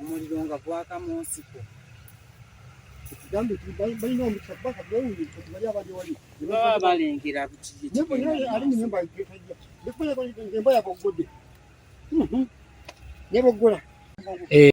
omuliro nga gwaka mu nsiko ekigambo balina omukisa kuba kabawulibali abali wali baba balengera ali munyumba emba yaboggode mhm. neboggola eh.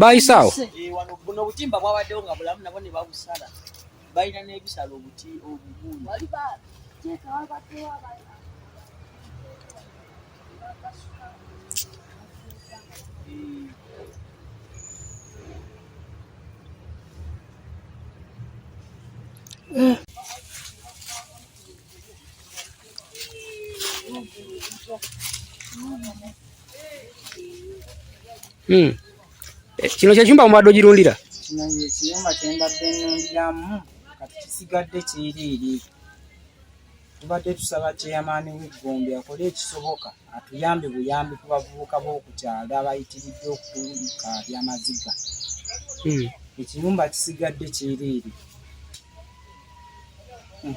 baayisaawo buno obutimba bwabaddewo nga bulamu nabo ne babusala balina n'ebisala obuti obuguulu Yeah. Hmm. Eh, kino kyekyumba mubadde ogirundira kino yekiyumba kyembadde nundiramu kati kisigadde kyereere tubadde tusaba kyeyamaani weggombe akole ekisoboka atuyambe buyambi ku bavubuka b'okukyalo abayitiridde okutulika byamaziga hmm. ekiyumba kisigadde kyereere hmm.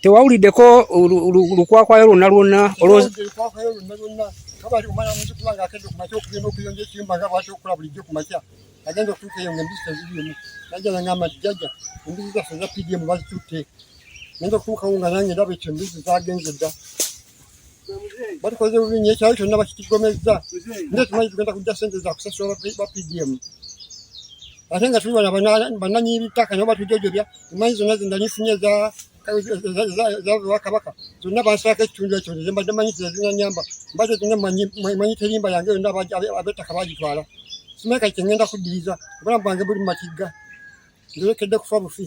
tewawuliddeko lukwakwayo lwonna lwonna olwokwakwayo lwonna lwonna kabali omwana muzikula nga akedde ku makya okugenda okuyonja ekiyumba nga bwati okukola bulijjo ku makya agenda okutuuka eyo nga embisi tezirimu najja nanga amajjaja embisi zaffe za pdm bazitutte nenda okutuukawo nga nange ndaba ekyo embisi zagenze dda batukoze bubi nnyo ekyalo kyonna bakitigomezza nde tumanyi tugenda kujja sente za kusasula ba pdm ate nga tuli bana bananyi bitaka nabo batujojobya emanyi zonna zendanifunye ezabewakabaka zonna bansako ekitundu ekyo nze mbadde manyi tezinanyamba mbadde zonna manyi terimba yange yonna abettaka bagitwala simeka kyengenda kuddiriza obulamu bwange buli mumatigga nzerekedde kufa bufi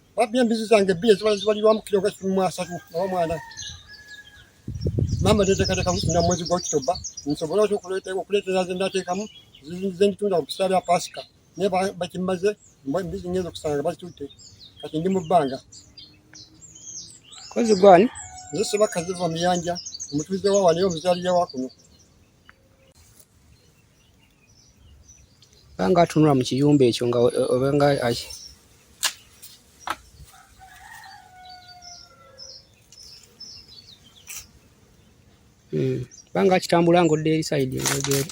Wapi embizi zange bbiri ezibala zibalirwamu kiro gwa kikumi mu asatu nawa mwana maama teteekateeka na mwezi gwa okitoba nsobole otya okuleetera ze ndateekamu nze nditunda ku biseera bya paasika naye bakimaze embizi ngenza okusanga bazitutte kati ndi mu bbanga kozi gwani nze sebakka ziva muyanja omutuuze wawa naye omuzaalira wa kuno banga atunula mu kiyumba ekyo nga obenga hmm. banga akitambula nga odda eri sayidi engegeeri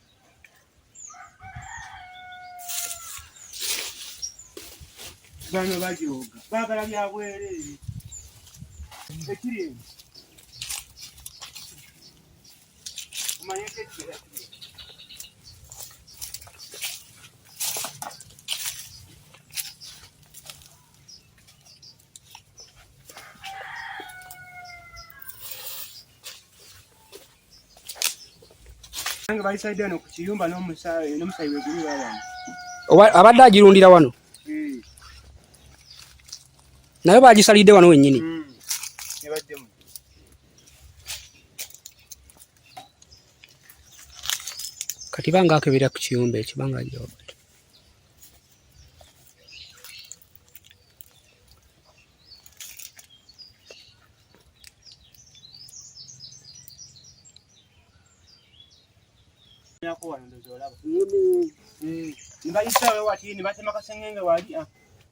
bano bajooga baagala bya bwereere ekiri eno omanyeko abadde agirundira wano hmm. naye bagisalidde wano wennyini hmm. kati banga akebera ku kiyumba ekyo banga yako wano ndozi olaba. Mbayisa wewe watini batema kasengenge wali.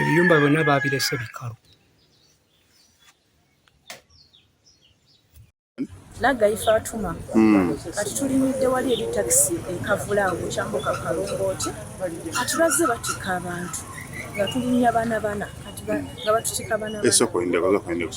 ebiyumba byonna baabirese bikalu nagayi fatuma hmm. kati tulinidde wali eri takisi ekavula awo kyambuka kalongooti kati bazze batikka abantu nga tulinya bana bana kati nga batutikka bana bana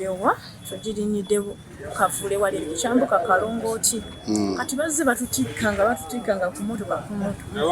ewa tugirinyidde kavule wali ekyambuka kalongooti hmm. kati bazze batutikka nga batutikka nga kumotoka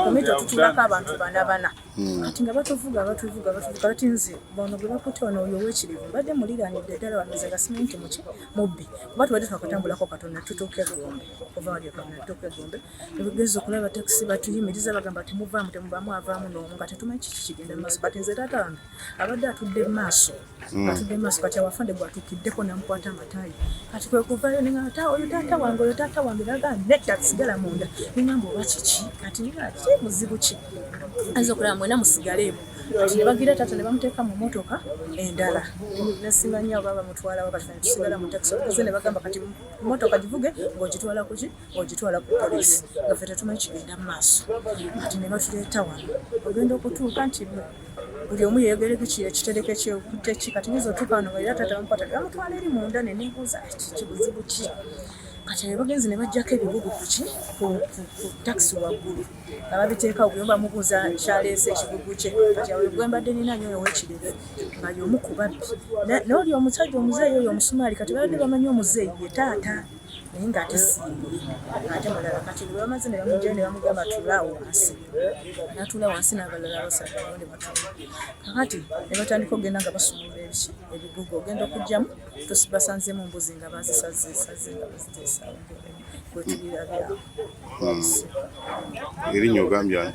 kumito tutulako abantu bana bana hmm. kati nga batuvuga batuvuga batuvuga kati nze bono gwe bakutte wano oyo owekirivu mbadde muliranidde ddala wanoze gasimenti muki mubbi kuba tubadde twakatambulako katonda tutuuke bulungi okuva wali ekamnatoka egombe nebageza okulaba takisi batuyimiriza bagamba temuvaamu temuvaamu avaamu noomu nga tetumanyi kiki kigenda maaso kati nze taata wange abadde atudde maaso mm. atudde maaso kati awafande gwatukiddeko namukwata amatayi kati kwekuvayo nengata oyo taata wange oyo taata wange naga netta sigala munda nengamba oba kiki kati ngaa ki muzibu ki ayinza okulaba mwena musigaleemu kati nebagira taata nebamuteeka mu motoka endala nasimanya oba bamutwalawo kati tusigala mu takisi okuze nebagamba kati motoka givuge ng'ogitwala kuki ng'ogitwala ku polisi nga fe tetumanyi kigenda mu maaso kati ne batuleeta wano ogenda okutuuka nti buli omu yeyogereko kitereke kyekutte ki kati nyinza otuuka wano nga era taata bamukwata bamutwala eri munda ne nebuuza kibuzibu ki kati abagenzi ne bajjako ebibugu kuki ku takisi waggulu nga babiteeka ogwe bamubuuza kyaleese ekigugu kye kati awo gwe mbadde nina nyo owekirevu nga yomu ku babbi n'oli omusajja omuzeeyi oyo omusumaali kati babadde bamanyi omuzeeyi ye taata naye nga ate simbye ate mulala kati bwe bamaze ne bamugya ne bamugamba tulaawo wansi natuula wansi n'abalala abasatu ne batula kakati ne batandika okugenda nga basumulula ebiki ebigugu ogenda okugyamu tusibasanzemu mbuzi nga bazisazesaze nga baziteesawo gwetubirabyawo erinnya ogambye ani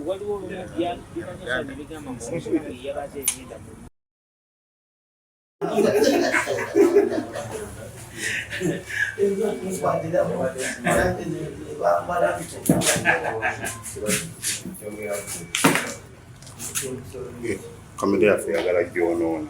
waliwo Famire yaffe yagala gyonoona.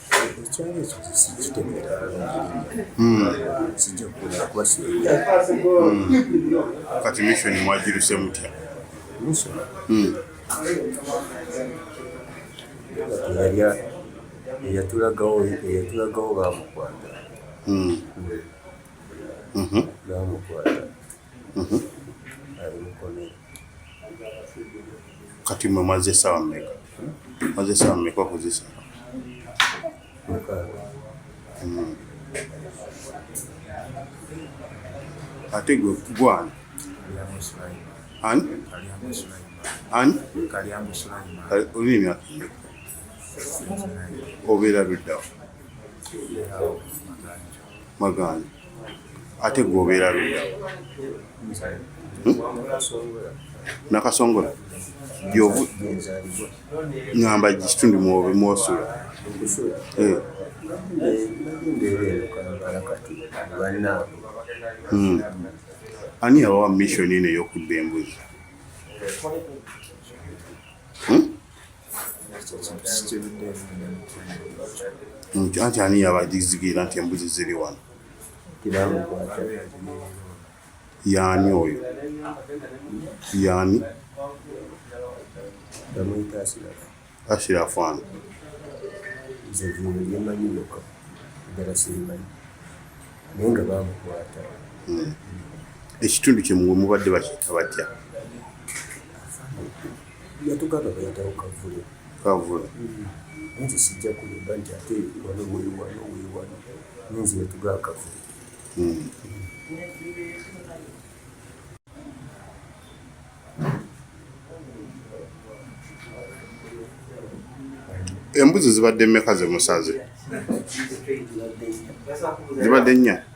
ekyalo ekyo sikitegera sijja kukulira kuba kati mission mwagiruse mutya eyatulagawo eyatulagawo bamukwata bamukwata ali mukomera Kati mwe mwaze esawa mmeka? Mwaze esawa mmeka okuzisa? Hmm. Ate gwe gwana ani ani olina emyaka obeera luddawo maganda ate gwe obeera luda hmm? nakasongola gyovu ngamba kitundu mwobe mwosula eh. hmm. ani awawa mission eno eyokudda embuzi hmm? anti ani yabazigira nti embuzi ziri wano yaani oyo yaani ashirafu ano hmm. ekitundu kyemuwe mubadde bakiyita batya yatugamba bayitawo kavule kavule mm-hmm. nze sijja kulimba nti ate wano wewano wewano nze yatugaa kavule mm. embuzi zibadde mmeka zemusaze zibadde nnya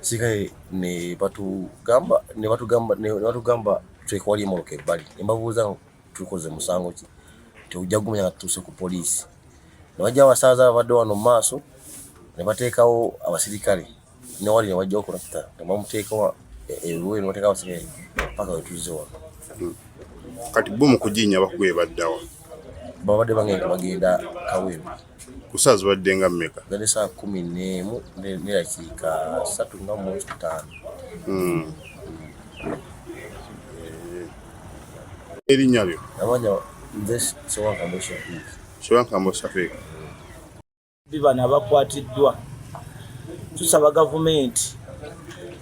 sigaye ne batugamba ne batugamba ne batugamba twekewali emoroka ebbali ne mbabuuza tukoze musango ki teujja gumanya nga tutuuse ku poliisi ne bajja abasaaza ababadde wano mu maaso ne bateekawo abasirikale newali ne bajja okulakuta ne bamuteekawo eruwe ne bateekawo abasirikale paka wetuze wano hmm. kati bo mu kujinya bakuba ebaddawa babadde bangenda bagenda kawemba ku saa zibadde nga mmeka zali saa kumi neemu nerakiika satu nga mwoki kutaano hmm. erinnya lyo amanya nze sewankambo shafiik sewankambo shafiik bibano abakwatiddwa tusaba gavumenti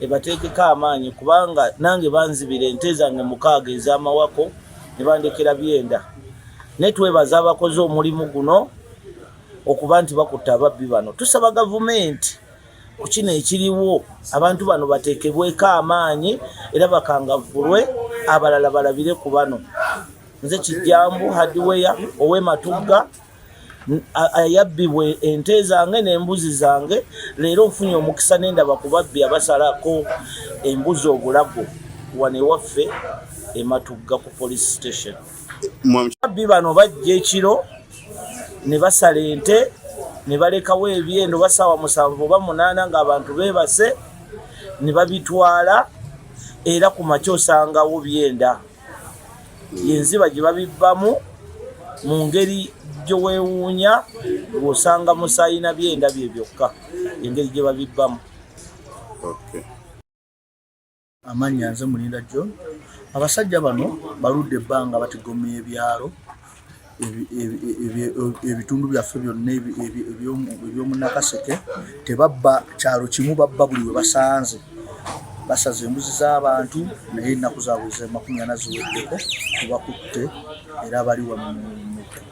ebateekeko amaanyi kubanga nange banzibira ente zange mukaaga ez'amawako ne bandekera byenda naye twebaza abakoze omulimu guno okuba nti bakutte ababbi bano tusaba gavumenti ku kino ekiriwo abantu bano bateekebweko amaanyi era bakangavvulwe abalala balabire ku bano nze kijjambu hadiweya ow'ematugga yabbibwa ente zange n'embuzi zange leero nfunye omukisa nendaba ku babbi abasalako embuzi obulago wano ewaffe ematugga ku police station babbi bano bajja ekiro ne basala ente ne balekawo ebyendo basaawa musanvu oba munaana ng'abantu beebase ne babitwala era ku makya osangawo byenda yenziba gye babibbamu mu ngeri gye weewuunya ng'osanga musaayi na byenda bye byokka engeri gye babibbamu amannya nze mulinda john abasajja bano baludde ebbanga batigomya ebyalo ebitundu byaffe byonna ebyomunakaseke tebabba kyalo kimu babba buli we basanze basaza embuzi z'abantu naye ennaku zaabwe zemakumi ana ziweddeko tubakutte era bali wa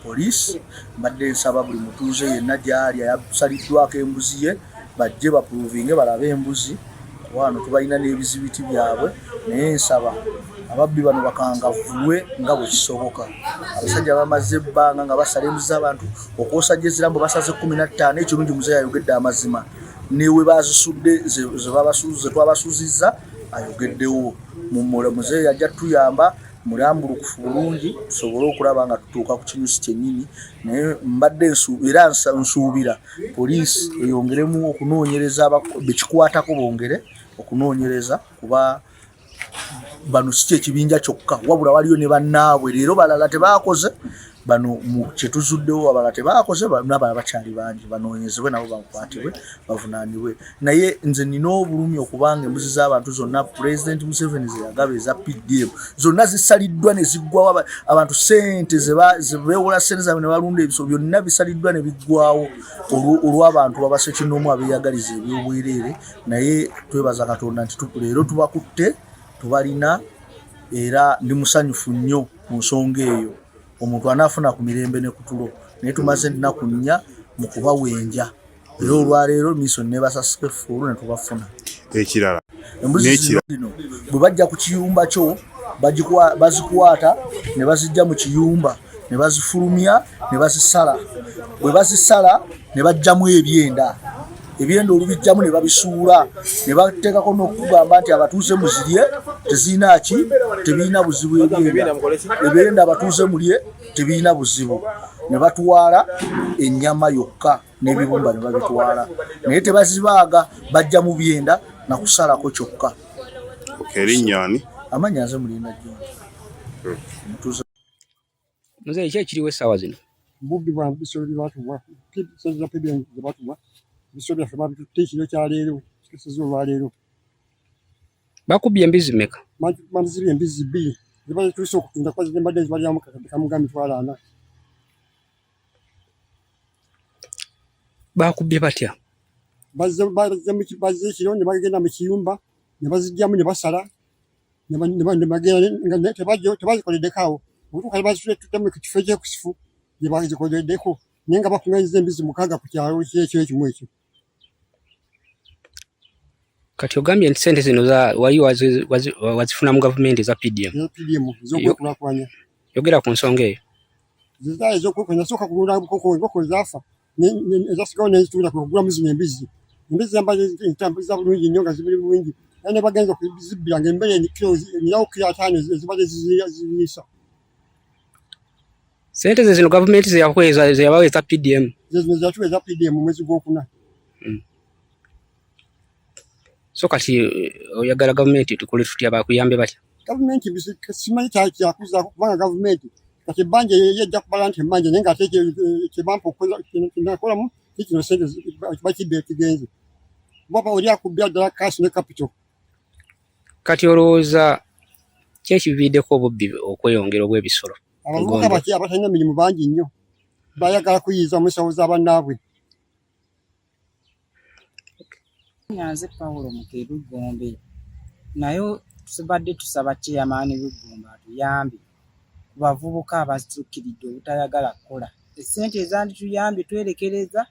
poliisi mbadde nsaba buli mutuuze yenna gyali ayasaliddwako embuzi ye bajje bapuruvinge balabe embuzi wano tubalina n'ebizibiti byabwe naye nsaba ababbi bano bakangavulwe nga bwekisoboka abasajja bamaze ebbanga nga basala embuzi z'abantu okwosajja ezirambo basaze kumi na ttaano ekirungi muze yayogedde amazima newe bazisudde zetwabasuziza ayogeddewo mumula muzeeyi ajja tuyamba mulambulukufu bulungi tusobole okulaba nga tutuuka ku kinyusi kyennyini naye mbadde nsuubira nsuubira poliisi eyongeremu okunoonyereza bekikwatako bongere okunoonyereza kuba bano si kyekibinja kyokka wabula waliyo ne bannaabwe leero balala tebaakoze bano kyetuzuddewo abalala tebaakoze nabalala bakyali bangi banoonyezebwe nabo bakwatibwe bavunaanibwe naye nze nina obulumi okubanga embuzi z'abantu zonna pulezidenti museveni zeyagaba eza pdm zonna zisaliddwa ne ziggwawo abantu sente zebewola sente zabwe ne balunda ebiso byonna bisaliddwa ne biggwawo olw'abantu babasekinomu abeyagaliza ebyobwereere naye twebaza katonda nti leero tubakutte tubalina era ndi musanyufu nnyo mu nsonga eyo omuntu anaafuna ku mirembe ne kutulo naye tumaze ennaku nnya mu kubawenja era olwaleero miso nebasasika effuulu netubafuna ekirala embuzi zino bwe bajja ku kiyumba kyo bazikwata ne bazijja mu kiyumba ne bazifulumya ne bazisala bwe bazisala ne bajjamu ebyenda ebyenda olubijjamu ne babisuula ne bateekako n'okugamba nti abatuuze muzirye tezirina ki tebirina buzibu ebyenda ebyenda abatuuze mulye tebirina buzibu ne batwala ennyama yokka n'ebiwumba ne babitwala naye tebazibaaga bajja mu byenda na kusalako kyokka erinnyani amannya nze mulinda jjoni hmm. muze ekyo ekiriwo essaawa zino bubbi bwa bisolo bye batubwa bisolo bya pebya bye batubwa bisolo byaffe babitutte ekiro kya leero kikeseza olwaleero bakubbye embizi meka manziri embizi bbiri zibazituse okutunda kuba zibadde zibalyamu kakadde kamuga mitwalo ana baakubbye batya bazze ekiro ne bagenda mu kiyumba ne bazijjamu ne basala tebazikoleddeko awo okutuuka bazitutte mu kifo ekyekusifu gye bazikoleddeko naye nga bakuŋanyiza embizi mukaaga ku kyalo kyekyo ekimu ekyo kati ogambye nti sente zino wali wazifuna mu gavumenti eza pdm yogera ku nsonga eyo ezasigawo nezitunda kugulamu zino embizi embizi zambatambuliza bulungi nnyo nga zibuli bulungi naye nebagenza okuzibbira nga embere nyawo kiro ataano ezibadde ziriisa Sente zino government zeyakweza zeyabawa eza PDM. Zezo zatu eza PDM mwezi gwokuna. Mm. So kati eh, oyagala government tukole tutya bakuyambe batya? Government bisi simanyi kya kya kuza kubanga government kati banje ye ja kubala nti manje nenga teke kibampo eh, kola kinakola mu kiti no sente baki be kigenze. Baba ori akubya dala cash ne capital. kati olowooza ki ekiviiriddeko obubbi okweyongera obw'ebisolo abavubuka baki abatalina mirimu bangi nnyo bayagala kuyiiza mu nsawo za bannaabwe nyanze pawulo mukebi gombe naye tubadde tusaba chairman w'eggomba atuyambe ku bavubuka abasukkiridde obutayagala kukola. Essente ezandituyambye twerekereza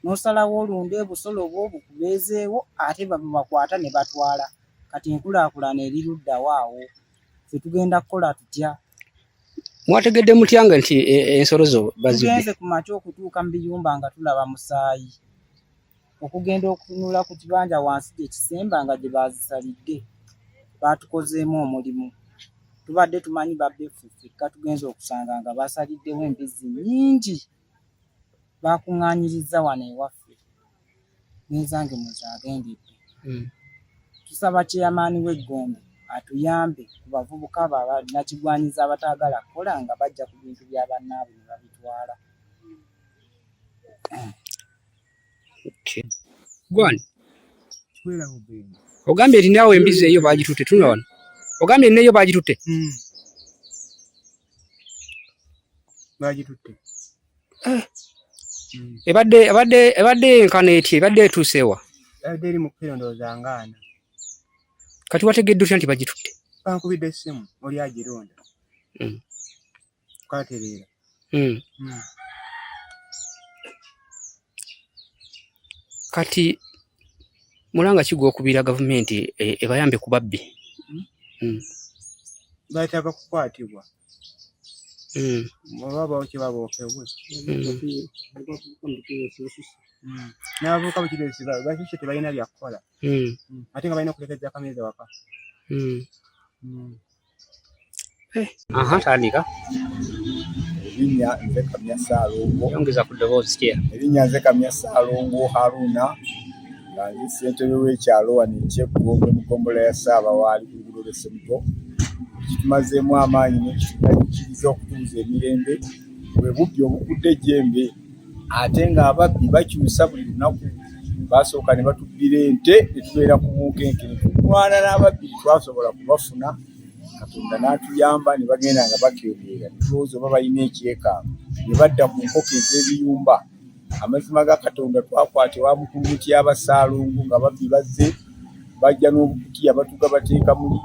n'osalawo olunde ebusolo bwo bukubeezeewo ate babakwata ne batwala. Kati enkulaakulana eri luddawo awo? Ffe tugenda kukola tutya? Mwategedde mutya nga nti e, e, ensolo zo bazibye? Tugenze ku makya okutuuka mu biyumba nga tulaba musaayi. okugenda okutunula ku kibanja wansi gye kisemba nga gye baazisalidde baatukozeemu omulimu tubadde tumanyi babbeffe ffekka tugenza okusanga nga baasaliddewo embizzi nnyingi baakuŋŋaanyirizza wano ewaffe n'ezange muzaagendedde hmm. tusaba kyeyamaani w'eggombe atuyambe ku bavubuka abo abanakigwanyiza abataagala kukola nga bajja ku bintu bya bannaabwe ne babitwala Gwani. Ogambye eri nawe embizi eyo bagitute tunula wano. Ogambye eri neyo bagitute. Mm. Bagitute. Eh. Mm. Ebadde ebadde ebadde enkana eti ebadde etusewa. Ebadde eri mu kirondo zangaana. Kati wategedde otya nti bagitute? Bankubidde essimu oli agironda. Mm. katereera hmm. Hmm. kati mulanga kigwa okubira gavumenti e, ebayambe ku babbi hmm. bataba kukwatibwa oba bawo kye babookebwe n'abavubuka bukiresi bakishe tebalina byakukola ate nga balina okulekereza kamere waka Eh. Aha, tandika. Erinnya nze Kamya Ssaalongo. Yongeza ku ddoboozi kye. Erinnya nze Kamya Ssaalongo Haruna nga nze ssentebe w'ekyalo wano eky'Eggongo mu ggombolola ya Ssaabawaali ku luguudo lw'e Semugo. Kitumazeemu amaanyi n'ekitukkiriza okutuuza emirembe bwe bubbi obukudde ejjembe. ate ng'ababbi bakyusa buli lunaku basooka ne batubbira ente ne tubeera ku bunkenke ne tulwana n'ababbi twasobola kubafuna katonda n'atuyamba ne bagenda nga bakeebeera netulowooza oba balina ekyekango ne badda ku nkoko ez'ebiyumba amazima ga katonda twakwata ewa mukulu mutya abasaalongo nga babbi bazze bajja n'obukutiya batuga bateeka muli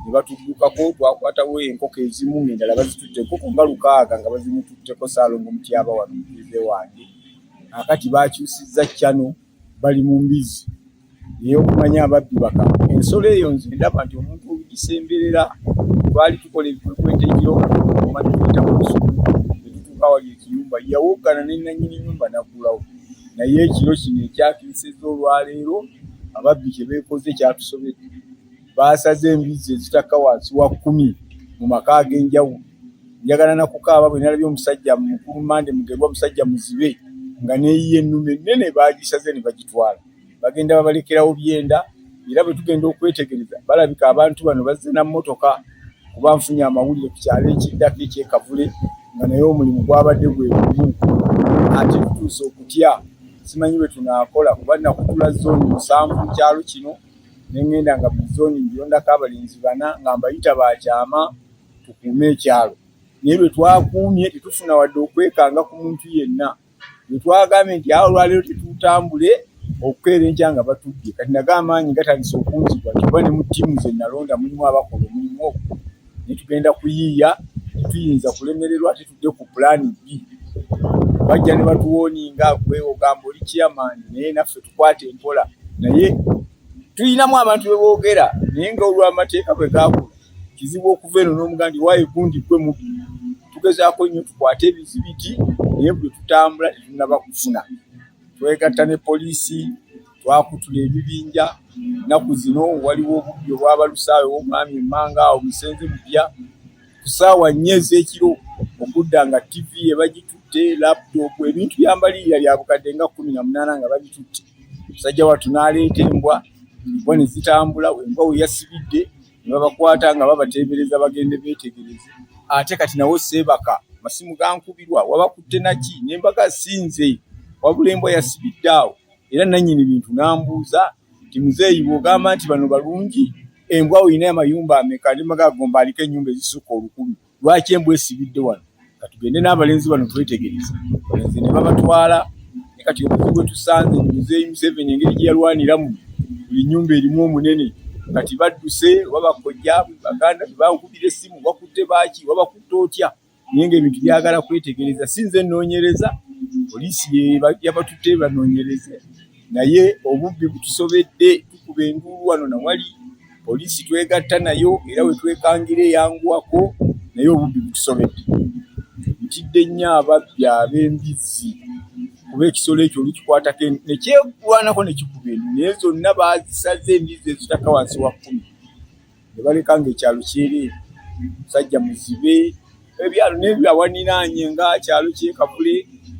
ne batuddukako twakwatawo enkoko ezimu ng'endala bazitutte enkoko nga lukaaga nga bazimututteko saalongo mutyaba wano mutuuze wange akati bakyusizza cano bali mu mbizzi naye okumanya ababbi baka ensolo eyo nze ndaba nti omuntu olugisemberera twali tukola ebikwekweto ekiro omanituyita ku lusuku ne tutuuka wali ekiyumba yawoggana ne nanyini nyumba naggulawo naye ekiro kino ekyatuusizza olwaleero ababbi kye beekoze kyatusobedde baasaze embizzi ezitakka wansi wa kkumi mu maka ag'enjawulo njagala nakukaaba bwe nalabye omusajja mukulu mande mugerwa musajja muzibe nga neyiye ennume ennene baagisaze ne bagitwala bagenda babalekerawo byenda era bwe tugenda okwetegereza balabika abantu bano bazze na mmotoka kuba nfunye amawulire ku kyalo ekiddako ekyekavule nga naye omulimu gwabadde gwe gumu ate tutuuse okutya simanyi bwe tunaakola kuba nakutula zooni musanvu mu kyalo kino ne ŋŋenda nga buli zooni mbirondako abalenzi bana nga mbayita bakyama tukuume ekyalo naye bwe twakuumye tetufuna wadde okwekanga ku muntu yenna wetwagambye nti awo olwaleero tetutambule okukeera enkya nga batudde kati naga amaanyi gatandise okunzibwa ntiba ne mu ttiimu ze nalonda mulimu abakola omulimu ogwo netugenda kuyiiya tetuyinza kulemererwa tetudde ku pulaani bbi bajja ne batuwooninga gwe ogamba oli chairmani naye naffe tukwata empola naye tulinamu abantu beboogera naye nga olw'amateeka bwe gaakula kizibu okuva eno n'omugandi waye gundi gwe mubi tugezaako nnyo tukwate ebizibiti naye buli tutambula tetunaba kufuna twegatta ne poliisi twakutula ebibinja nnaku zino waliwo obubbi obwabalusaawe womwami emmanga awo musenze mupya ku saawa nnya ez'ekiro okudda nga tivi ebagitutte laptop ebintu byambaliirira lya bukadde nga kumi na munaana nga babitutte musajja watu n'aleeta embwa embwa ne zitambula embwa we yasibidde ne babakwata nga babateebereza bagende beetegereze ate kati nawo seebaka masimu gankubirwa wabakutte naki ne mbaga sinze wabula embwa yasibidde awo era nannyini bintu n'ambuuza nti muzeeyi bw'ogamba nti bano balungi embwa olina amayumba ameka ne maga gomba aliko ennyumba ezisukka olukumi lwaki embwa esibidde wano katugende n'abalenzi bano twetegereza balenzi ne babatwala ne kati obuzibu bwetusanze muzeeyi museveni engeri gye yalwaniramu buli nyumba erimu omunene kati badduse babakojja baganda bebankubira essimu bakutte baaki babakutte otya naye ngaebintu byagala kwetegereza si nze noonyereza poliisi yabatutte banoonyereze naye obubbi butusobedde tukuba enduulu wano nawali poliisi twegatta nayo era wetwekangira eyanguwako naye obubbi butusobedde ntidde nnyo ababbi ab'embizzi kuba ekisolo ekyo olukikwatako nekyegwanako nekikuba endu naye zonna bazisaze embizzi ezitaka wansi wa kkumi ne baleka ng'ekyalo kyeri musajja muzibe ebyalo n'ebyo awaninaanye nga kyalo kyekavule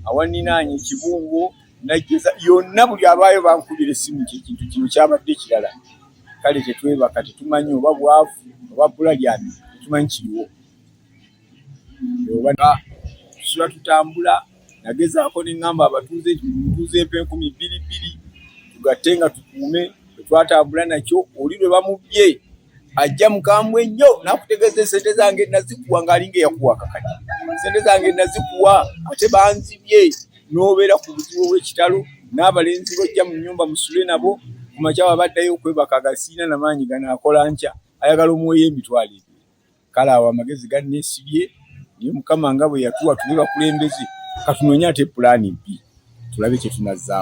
awaninaanye ekibungo najjeza yonna buli abaayo bankubira essimu nti ekintu kino kyabadde kirala kale tetwebaka tetumanyi oba bwavu oba bbula lyani tetumanyi kiriwo tusula tutambula nagezaako ne ŋŋamba abatuuze tuuze empa enkumi bbiri bbiri tugatte nga tukuume twetwatambula nakyo oli lwe bamubbye ajja mukambwe nnyo nakutegeeza esente zange nazikuwa ngaalinga eyakuwa kakati sente zange nazikuwa ate banzibye n'obeera ku buzibu obw'ekitalo n'abalenzi bojja mu nnyumba musule nabo ku makyawa baddayo okwebaka agasiina namaanyi gano akola nkya ayagala omuweyo emitwalo ebyo kale awo amagezi ganneesibye naye mukama nga bwe yatuwa tube bakulembeze katunoonye ate pulaani mpi tulabe kye tunazzaako